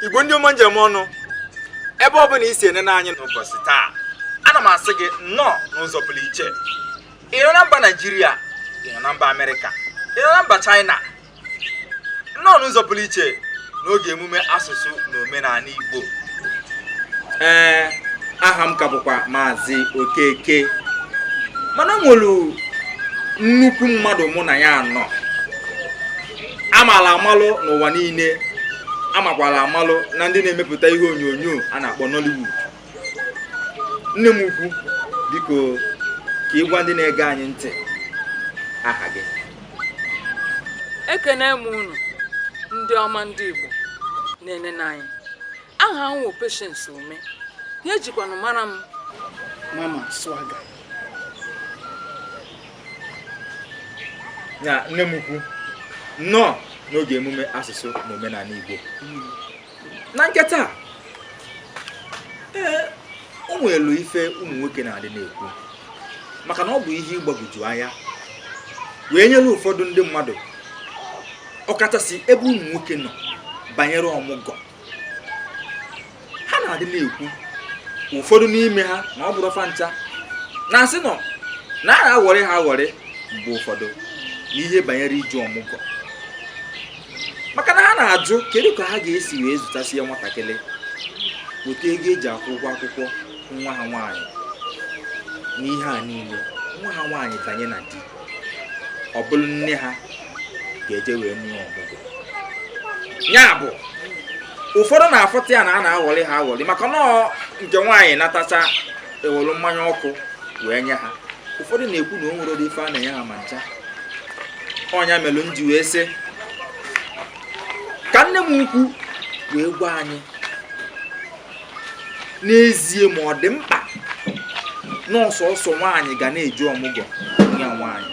igbo ndị ọma m ji eme ọnụ ebe ọ bụla i si enene anyị n'ụbọchị taa ana m asị gị nnọọ n'ụzọ pụrụ iche ị nọ na mba naijiria ị nọ na mba amerịka ị nọ na mba chaịna nnọọ n'ụzọ pụrụ iche n'oge emume asụsụ na omenala Igbo ee aha m ka bụkwa maazị Okeke mana m nwere nnukwu mmadụ mụ na ya nọ amala amalụ n'ụwa niile amakwala amalụ na ndị na-emepụta ihe onyonyo a na-akpọ Nollywood nne m ukwu biko ka ị gwa ndị na-ege anyị ntị aha gị ekene m unu ndị ọma ndị Igbo na-enene anyị aha m wụ Patience Ume ya e jikwanụ mara m Mama Swagger na nne m ukwu nnọọ n'oge emume asụsụ na omenala Igbo hmm. na nke taa ee o nwelu ife ụmụ nwoke na-adị na-ekwu maka na ọ bụ ihe ịgbagwoju anya wee nyere ụfọdụ ndị mmadụ ọkachasị ebe ụmụ nwoke nọ banyere ọmụgwọ ha na-adị na-ekwu ụfọdụ n'ime ha na ọ bụrọ fa ncha na-asị na a na-aghọrị ha aghọrị mgbe ụfọdụ n'ihe banyere ije ọmụgwọ maka na ha na-ajụ kedu ka ha ga-esi wee zụtasịa nwatakịrị weta ego eji akwụ ụgwọ akwụkwọ nwa ha nwaanyị n'ihe a niile nwa ha nwaanyị banye na di ọ bụrụ nne ha ga-eje wee nee ọmụgwọ ya bụ ụfọdụ na-afụta ya na a na-aghọrị ha aghọrị maka na nke nwaanyị natacha e were mmanya ọkụ wee nye ha ụfọdụ na-ekwu na o nwere ụdị ife a na-enye ha ma ncha ọ nya melụ m ji wee sị ka nne m ukwu wee gwa anyị n'ezie ma ọ dị mkpa na ọ sọọsọ nwaanyị ga na-eje ọmụgwọ ya nwaanyị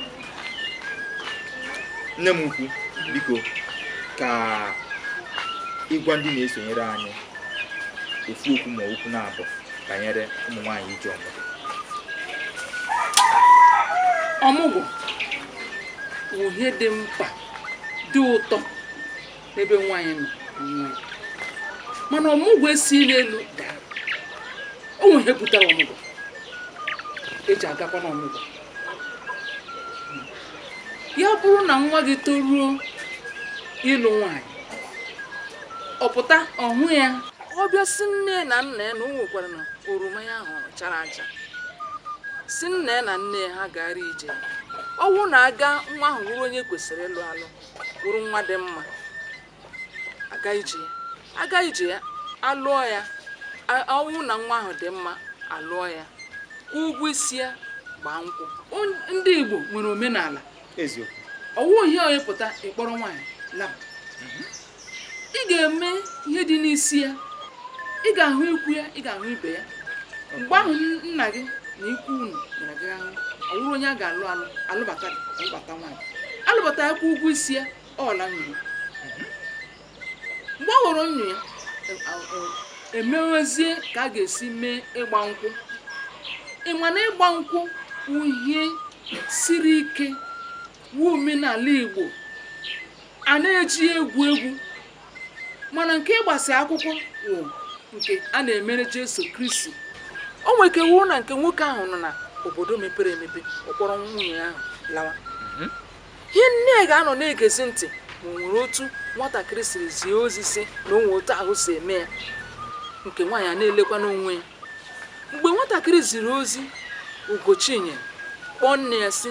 nne m ukwu biko ka ị gwa ndị na-esonyere anyị ofu okwu ma okwu naabọ banyere ụmụ nwaanyị ije ọmụgwọ ọmụgwọ bụ ihe dị mkpa dị ụtọ n'ebe nwaanyị nọ onwe ya. mana ọmụgwọ esighi n'elu daa o nwere ihe butere ọmụgwọ e ji agakwa n'ọmụgwọ ya bụrụ na nwa gị toruo ịlụ nwanyị ọ pụta ọ hụ ya ọ bịa sị nne na nna ya na o nwekwara na oroma ya ahụ chara acha sị nna ya na nne ya ha gara ije ọ wụ na a gaa nwa ahụ wụrụ onye kwesịrị ịlụ alụ wụrụ nwa dị mma a gaa ije ya a gaa ije ya a lụọ ya a- ọ wụ na nwa ahụ dị mma a lụọ ya kwụọ ụgwọ isi ya gbaa nkwụ On- ndị igbo nwere omenala eziokwu ọ wụ ihe onye pụta ị kpọrọ nwaanyị laba ị ga-eme ihe dị n'isi ya ị ga-ahụ ikwu ya ị ga-ahụ ibe ya mgbe ahụ n- nna gị na ikwu unu gara gara ahụ ọ wụrụ onye a ga-alụ alụ a lụbata gị a lụbata nwaanyị a lụbata ya kwụ ụgwọ isi ya ọla nwunye ya mgbe ọ ghọrọ nwunye ya e mewezie ka a ga-esi mee ịgba nkwụ ị ma na ịgba nkwụ wụ ihe siri ike wụ omenala Igbo a na-ejighị egwu egwu mana nke ịgbasi akwụkwọ wụ nke a na-emere Jesu Kristi o nwere ike wụọ na nke nwoke ahụ nọ na obodo mepere emepe ọ kpọrọ nwunye ahụ lawa ihe nne ga-anọ na-egezi ntị ma o nwere otu nwatakịrị siri zie ozi sị na o nwe otu ahụ si eme ya nke nwaanyị a na-elekwa n'onwe ya mgbe nwatakịrị ziri ozi ugochinyere kpọọ nne ya sị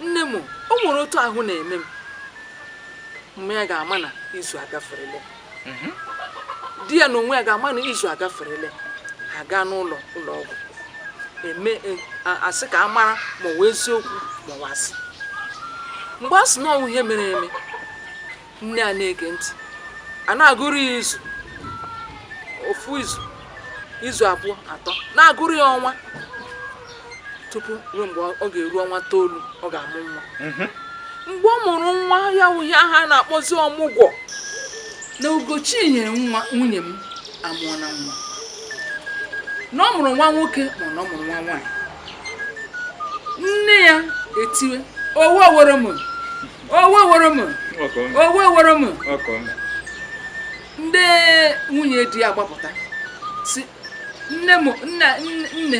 nne m o nwere otu ahụ na-eme m mma ya ga-ama na izu agaferele mhm. di ya na onwe ya ga-ama na izu agaferele ha gaa n'ụlọ ụlọ ọgwụ e mee, a sị ka a mara ma ọ wụ eziokwu ma ọ wụ asị mgbe a sị na ọ wụ ihe mere eme nne a na-ege ntị a na-agụrụ ya izu ofu izu izu abụọ atọ na-agụrụ ya ọnwa tupu ruo mgbe ọ ga-eru ọnwa toolu ọ ga-amụ nwa mhm. mgbe ọ mụrụ nwa ya wụ ihe a ha na-akpọzi ọmụgwọ na ugochinyere nwa nwunye m amụọna nwa na ọ mụrụ nwa nwoke ma na ọ mụrụ nwa nwaanyị nne ya etiwe owe owere m owe owere m owe owere m ndị nwunye di ya gbapụta sị nne m nna nne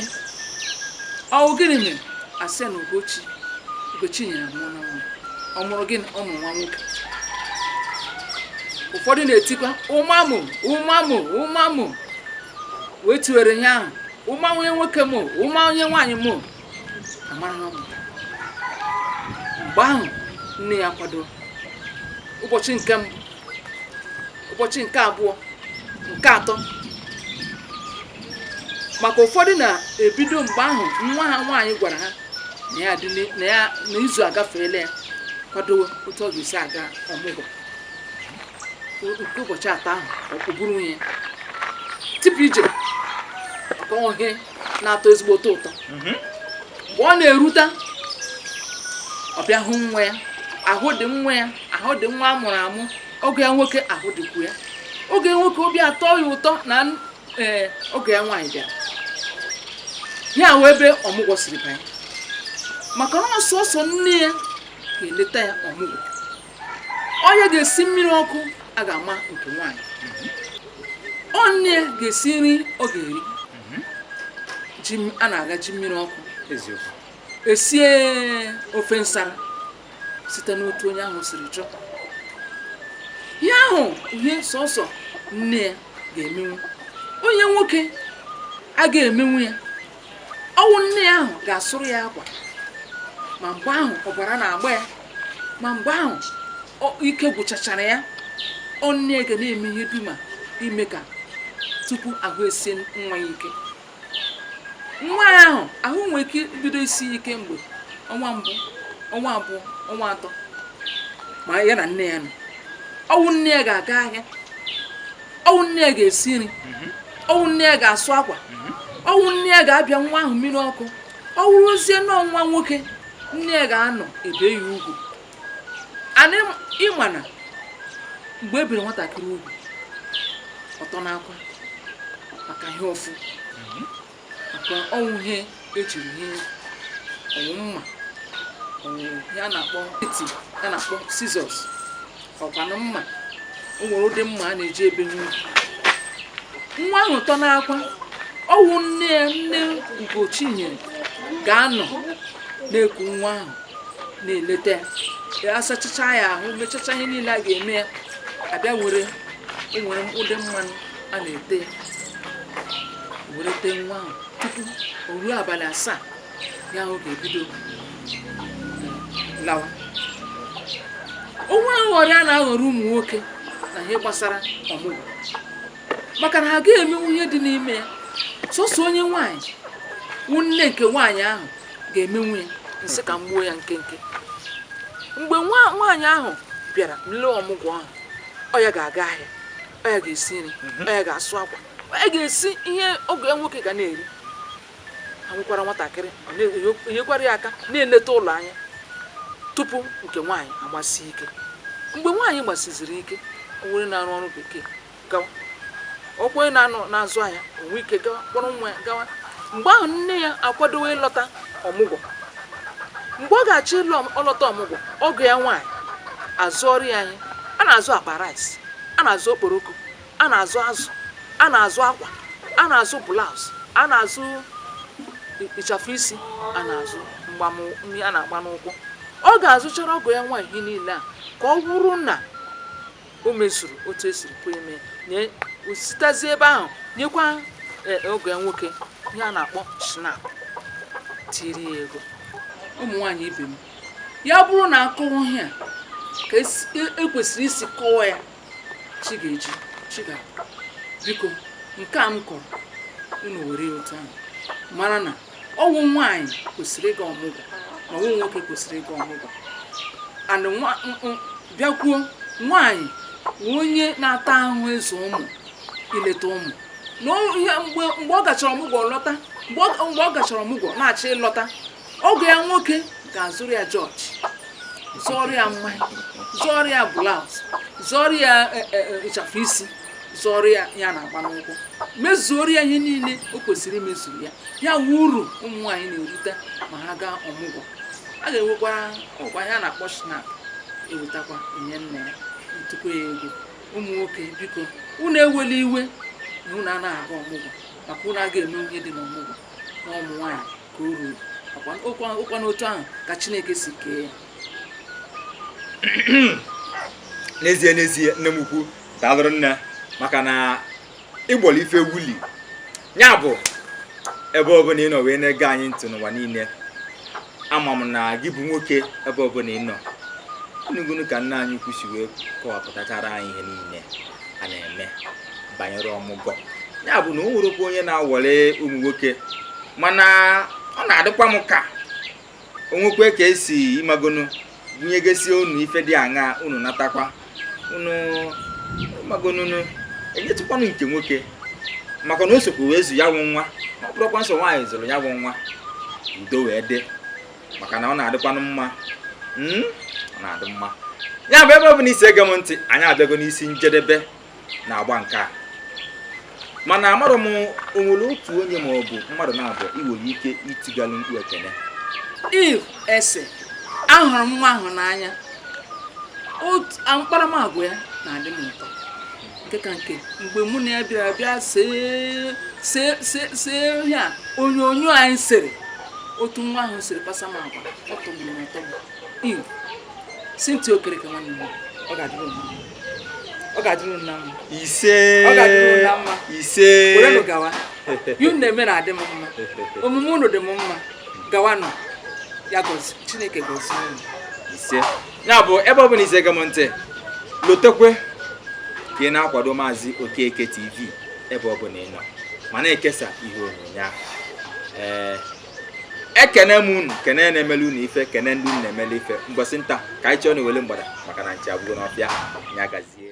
ọ wụ gịnị mere a sị na ugochi ugochinyere amụọna nwa ọ mụrụ gịnị ọ mụrụ nwa nwoke ụfọdụ na-etikwa ụmamụ ụmamụ ụmamụ wee tiwere ihe ahụ ụma onye nwoke m ụma onye nwaanyị m amaraghị mgbe ahụ nne ya kwadoro ụbọchị nke mbụ ụbọchị nke abụọ nke atọ maka ụfọdụ na-ebido mgbe ahụ nwa ha nwaanyị gwara ha na ya dị n'i- na ya na izu agafeela ya kwadowe otu ọ ga-esi aga ọmụgwọ O- nke ụbọchị atọ ahụ o buru ihe ya tipụ ije ọkọnwụhe na-atọ ezigbo ụtọ ụtọ mhm. mgbe ọ na-erute ọ bịa hụ nwa ya ahụ dị nwa ya ahụ dị nwa a mụrụ amụ ọgọ ya nwoke ahụ dịkwu ya ọgọ ya nwoke obi atọ ya ụtọ na e, ọgọ ya nwaanyị bịara ya wụ ebe ọmụgwọ siri banye maka na ọ sọsọ nne ya ga-eleta ya ọmụgwọ ọ ya ga-esi mmiri ọkụ a ga-ama nke nwaanyị ọ nne ya ga-esi nri ọ ga-eri ji a na-aga ji mmiri ọkụ esie ofe nsara site n'otu onye ahụ siri chọọ ya ọ wụ ihe sọsọ nne ya ga-emenwu onye nwoke agaghị emenwu ya ọ wụ nne ya ahụ ga-asụrụ ya akwa ma mgbe ahụ ọbara na-agba ya ma mgbe ahụ ike gwụchachara ya ọ nne ya ga na-eme ihe dum a ime ka tupu ahụ esie nwa ya ike nwa ya ahụ ahụ nwere ike bido isi ya ike mgbe ọnwa mbụ ọnwa abụọ ọnwa atọ ma ya na nne ya nọ ọ wụ nne ya ga-aga ahịa ọ wụ nne ya ga-esi nri mhm. ọ wụ nne ya ga-asụ akwa mhm. ọ wụ nne ya ga-abịa nwa ahụ mmiri ọkụ ọ wụrụzie na ọ nwa nwoke nne ya ga-anọ e bee ya ugwu and ị ma na mgbe e biri nwatakịrị ugwu ọ tọ n'akwa maka ihe ụfụ maka ọ wụ ihe e jiri bie ọ wụ mma ọ wụ ihe a na-akpọ eti ihe a na-akpọ scissors ọ kwanụ mma o nwere ụdị mma a na-eji ebe nwa nwa ahụ tọ n'akwa ọ wụ nne ya nne Ugochinyere ga-anọ na-eku nwa ahụ na-eleta ya asachacha ya ahụ mechacha ihe niile a ga-eme ya a bịa were o nwere ụdị mmanụ a na-ete were tee nwa ahụ tupu o ruo abalị asaa ya ahụ ga-ebido lawa o nwere nghọrị a na-aghọrọ ụmụ nwoke na ihe gbasara ọmụgwọ maka na ha agaghị emenwu ihe dị n'ime ya sọsọ onye nwaanyị wụ nne nke nwaanyị ahụ ga-emenwu ya m sị ka m gbuo ya nkenke mgbe nwa nwaanyị ahụ bịara nle ọmụgwọ ahụ ọ ya ga-aga ahịa ọ ya ga-esi nri mhm. ọ ya ga-asụ akwa ọ ya ga-esi ihe ọgọ ya nwoke ga na-eri e nwekwara nwatakịrị enyekwara ya aka na-eleta ụlọ anya tupu nke nwaanyị agbasi ike mgbe nwaanyị gbasiziri ike ọ wụrụ onye na-arụ ọrụ bekee gawa ọkwa onye na-azụ ahịa o nwee ike gawa kpọrọ nwa ya gawa mgbe ahụ nne ya akwadowe ịlọta ọmụgwọ mgbe ọ ga-achọ ịlọta ọmụgwọ ọgọ ya nwaanyị azụọrọ ya ihe a na-azụ akpa rice a na-azụ okporoko a na-azụ azụ a na-azụ akwa a na-azụ blouse a na-azụ ịchafụ isi a na-azụ mgbamnri a na-agba n'ụkwụ ọ ga-azụchara ọgọ ya nwaanyị ihe niile ahụ ka ọ wụrụ na o mezuru otu e siri kwe eme nye sitezi ebe ahụ nyekwa eh, ọgọ ya nwoke ihe a na-akpọ schnapp tiri ya ego ụmụ nwaanyị ibe m ya bụrụ na a kọwa ihe a ka e kwesịrị isi kọwa ya chi ga-eji chi ga biko nke a m kọrọ unu were ya otu ahụ mara na ọ wụ nwaanyị kwesịrị ịga ọmụgwọ na ọ wụghị nwoke kwesịrị ịga ọmụgwọ and bịakwuo nwaanyị wụ onye na-ata ahụhụ ịzụ ụmụ ileta ụmụ na ihe mgbe ọ gachara ọmụgwọ lọta mgbe ọ gachara ọmụgwọ na-achọ ịlọta ọgọ ya nwoke ga-azụrụ ya george zụọrọ ya mmanya zụọrọ ya blouse zụọrọ ya e, e, e, ịchafụ isi zụọrọ ya ihe a na-agba n'ụkwụ mezuoro ya ihe niile o kwesịrị imezuru ya ya wụ uru ụmụ nwaanyị na-erite ma ha gaa ọmụgwọ a ga-ewekwa ihe a na-akpọ schnapp ewetakwa enye nne ya ntụkọ ya ego ụmụ nwoke biko unu ewela iwe na unu anaghị aga ọmụgwọ maka unu aga eme ihe dị n'ọmụgwọ na ụmụ nwaanyị ka o ruru ọ wụkwanụ otu ahụ ka chineke si kee ya n'ezie n'ezie nne m ukwu daalụrụ nne maka na ịgbọrọ ife wuli ya bụ ebe ọ bụla ị nọ wee na-ege anyị ntị n'ụwa niile ama m na gị bụ nwoke ebe ọbụla ị nọ ị nụgonu ka nne anyị ukwu si wee kọwapụtachara anyị ihe niile a na-eme banyere ọmụgwọ ya bụ na o nwerọkwa onye na-awọli ụmụ nwoke mana ọ na-adịkwa m ka o nwekwe ka e si ị magonu bunyegesie unu ife dị aṅaa unu natakwa unu magonunu enyetụkwanụ nke nwoke maka na o sokwu wee zụọ ya bụ nwa ọ bụrọkwa sọ nwaanyị zụlụ ya bụ nwa udo wee dị maka na ọ na-adịkwanụ mma hmm? ọ na-adị mma ya bụ ebe ọ bụla i si ege m ntị anyị abịago n'isi njedebe n'agba nke a mana amarọ m o nwere otu onye ma ọ bụ mmadụ naabọ i nwere ike itigalụ mkpu ekene eve esin ahụrụ m nwa ahụ n'anya otu a- mkparamagwa ya na-adị m ụtọ nke ka nke mgbe mụ na ya bịara bịa see see see see ihe a onyonyo anyị sere otu nwa ahụ siri kpasa m agwa ọ tọgburu m atọgbu eve cynthia okereke nwanne m ọ ga-adịrị unu mma. ọ ga-adịrị unu mma ise ọ ga-adịrị unu mma ise werenụ gawa ihe unu na-eme na-adị m mma omume unu dị m mma gawanụ ya gazie chineke gozie unu ise ya bụ ebe ọ bụla i si ege m ntị lotekwe ka ị na-akwado maazị okeke tv ebe ọ bụla ị nọ ma na-ekesa ihe onyonyo ahụ ee ekene m unu kene ndị na-emele unu ife kene ndị unu na-emele ife mgbasị nta ka anyị chọọ n'owele mgbada maka na nchi abụgo n'ọfịa ya gazie